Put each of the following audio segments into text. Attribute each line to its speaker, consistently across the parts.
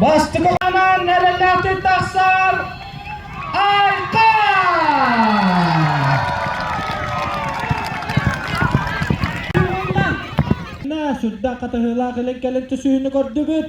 Speaker 1: Бастымаҕынан эрэллээхтик тахсар Айта! Сүрдээх хатаһыылаах илин-кэлин түсүүнү көрдүбүт.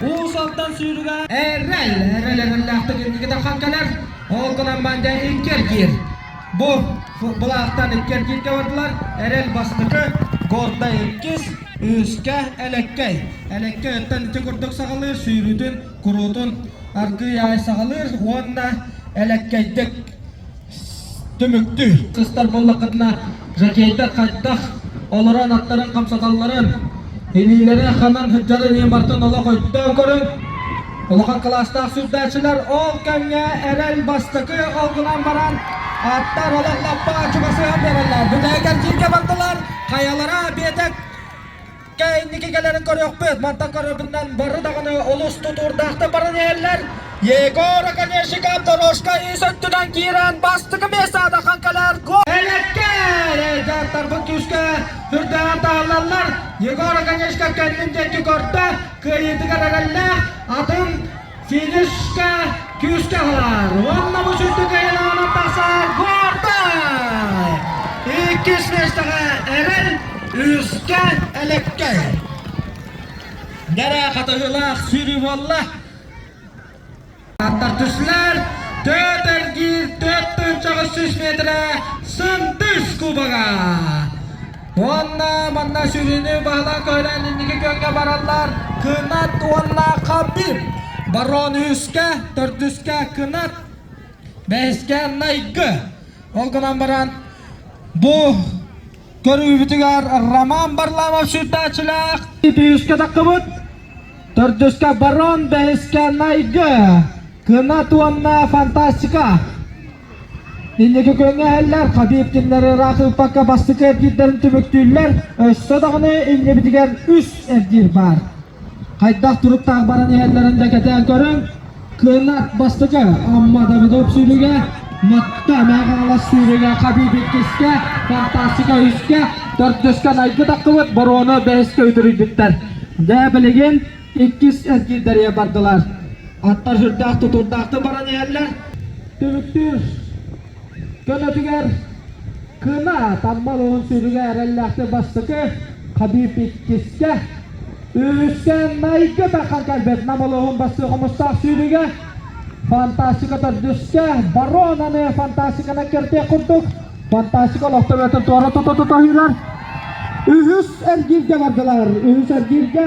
Speaker 1: Уусаттан сүүрүгэ эрэл эрэл эрэллээхтик икки тархан кэлэр ол гынан банда икки эргиир бу былаахтан икки эргииргэ бардылар эрэл бастакы годда иккис үөскэ элеккэй элеккэй оттон икки курдук саҕалыыр сүүрүүтүн куруутун аргыый аай саҕалыыр уонна элеккэйдик түмүктүү кыстар буоллаххытына жокейдар хайдах олорон аттарын хамсаталларын илиилэрэ ханан сылдьарын ийэ мартын олох өйдөөн көрүҥ улахан кылаастаах сүрдэчилэр ол кэмҥэ эрэл бастакы олгунан баран аттар олох лаппа чугасыһан бэрэллэр бүтээн кэрдииргэ бардылар хайалара биэтик Дьэ инники кэлэрин көрүөхпүт. Мантан көрөрбүтүнэн бары даҕаны олус тутуурдаахтык баран иһэллэр. Егор, конечно, Дорожка ис өттүнэн киирэн бастакы мессада ахан кэлэр гол. Элэккэ дьааттарбыт түскө үрдээн таһаллаллар. Егор, конечно, кэннин диэки көрдө. Кыайыытыгар эрэллээх. Атын Силискэ күүскэ аһылар уонна бу сүрдүк эйэлэҕинэн тахсар квартал иккис миэстэҕэ эрэл үһүскэ элэккэй кэрэ хатыһыылаах сүүрүү буолла аттар түслэр төрт эргиир төрт тыынчаҕыс сүүс метрэ сындыс кубога Уонна манна сүрүнү баһылаан көһүнэн инники күөҥҥэ бараллар. Кынат уонна Хабib. Барон үһүскэ, төрдүскэ кынат, бэһискэ найгы. Ол гынан баран бу көрүүбүтүгэр Роман Барламов сүрдээх үһүскэ таххыбыт. Төрдүскэ барон, бэһискэ найгы. Кынат уонна фантастика. Билиги көрөн эһэллэр, Хабибкиннэри ыраах ыыппакка бастакы эргиирдэрин түмүктүүллэр, өссө даҕаны иннибитигэр үс эргиир баар. Хайдах туруктаах баран иһэллэрин да кэтээн көрүҥ. Кынат бастакы Амма Давыдов сүүрүгэ, Матта Мәҕаалас сүүрүгэ, Хабиб иккискэ, Фантастика үһүскэ, төрдүскэ найгы таххыбыт, боруона бэһискэ үтүрүйбүттэр. Дьэ, билигин иккис эргиирдэрийэ бардылар. Аттар сүрдээх-тутуурдаахтык баран иһэллэр. Түмүктүүр көнөтүгэр кына таммалыгын сиргэ эрэллээхтик бастакы Хабib иккискэ үһүскээн майгы тархан кэлбит Нам улууһун бастык хомустаах сүүрүгэ фантастика төрдүскэ баронаны фантастиканы кертия курдук фантастика олохтор өтө туора тута тута үйрөр үһүс эргииргэ бардылар үһүс эргииргэ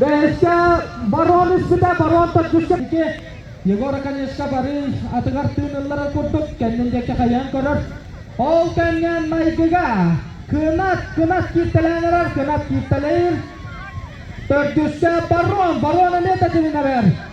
Speaker 1: Бэстэ барон испитэ барон төрдүскэ дики Егор Конешка барыы атыгар тыынылларын курдук кэннин диэки хайаан көрөр. Ол кэннэн майгыга кынат кынат кииртэлээн эрэр кынат кииртэлэйир. Төрдүскэ барон барон эмиэ тэтиминэ бэр.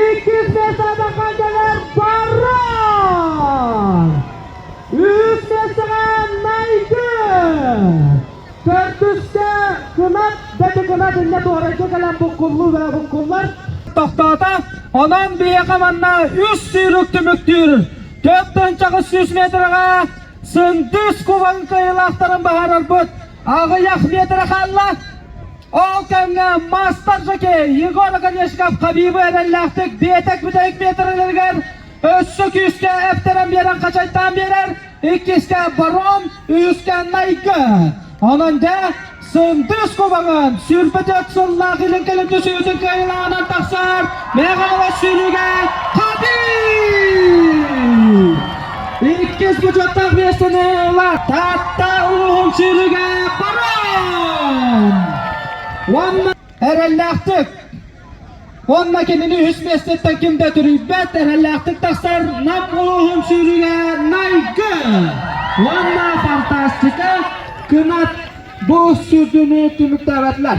Speaker 1: Иккисэ сабаха дьаҥар барар! Үстэ майгы! Төрдүскэ кынат бэти кынат иннэ туорайга кэлэн буккуллуу бэрэ буккуллар. Тохтоото, онон биһиэхэ манна үс сүүрүк түмүктүүр. Төрт тыынчаҕыс сүүс метрҕэ Сындыыс кубаҥ кыайыылаахтарын баһаарарбыт Аҕай Ахметова хаалла. Ол кэмҥэ мастер жокей Егор Оконешков Хабибы эрэллээхтик биэтик бүтэһик метрлэригэр өссө күүскэ эптэрэн биэрэн хачайдаан биэрэр. Иккискэ барон, үһүскэ найгы. Онон дэ Сындыс кубаҕын сүрбэтет сыллаах илин кэлин түсүүтүн кыайылаҕынан тахсар Мэҕэҕэ сүйрүгэ Хабиб! Иккис бочуоттаах биэстэниэла Таатта улууһун сүүрүгэ баран уонна эрэллээхтик уонна кинини үһүс миэстэттэн ким да түрүйбэт эрэллээхтик тахсар Нам улууһун сүүрүгэ Найгы уонна фантастика кынат бу сүрдүнү түмүктээбэтилэр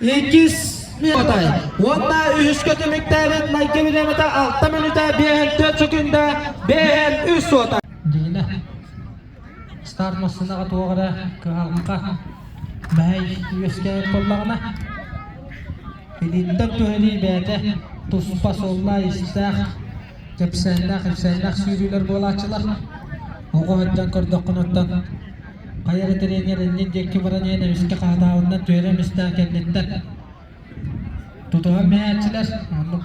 Speaker 1: Иккис минутай уонна үһүскэ түмүктээбит майгы билэмэтэ алта мүнүтэ биэһэн түөрт секунда биэһэн үс суота. Дина старт массыынаҕа туох эрэ кыһаҕанха бэһэй үөскээбит буоллаҕына илииттэн туһэрии бэйэтэ туспа суолла истээх кэпсээннээх ипсээннээх сүүрүүлэр буолааччылар оҕо сылдьан көрдөххүнүттэн Хайа эрэ тренер иннин диэки баран иһэн эмискэ хаһатаабыннар түһэрэ эмистээн кэнниттэн тутуһан биһээччилэр оннук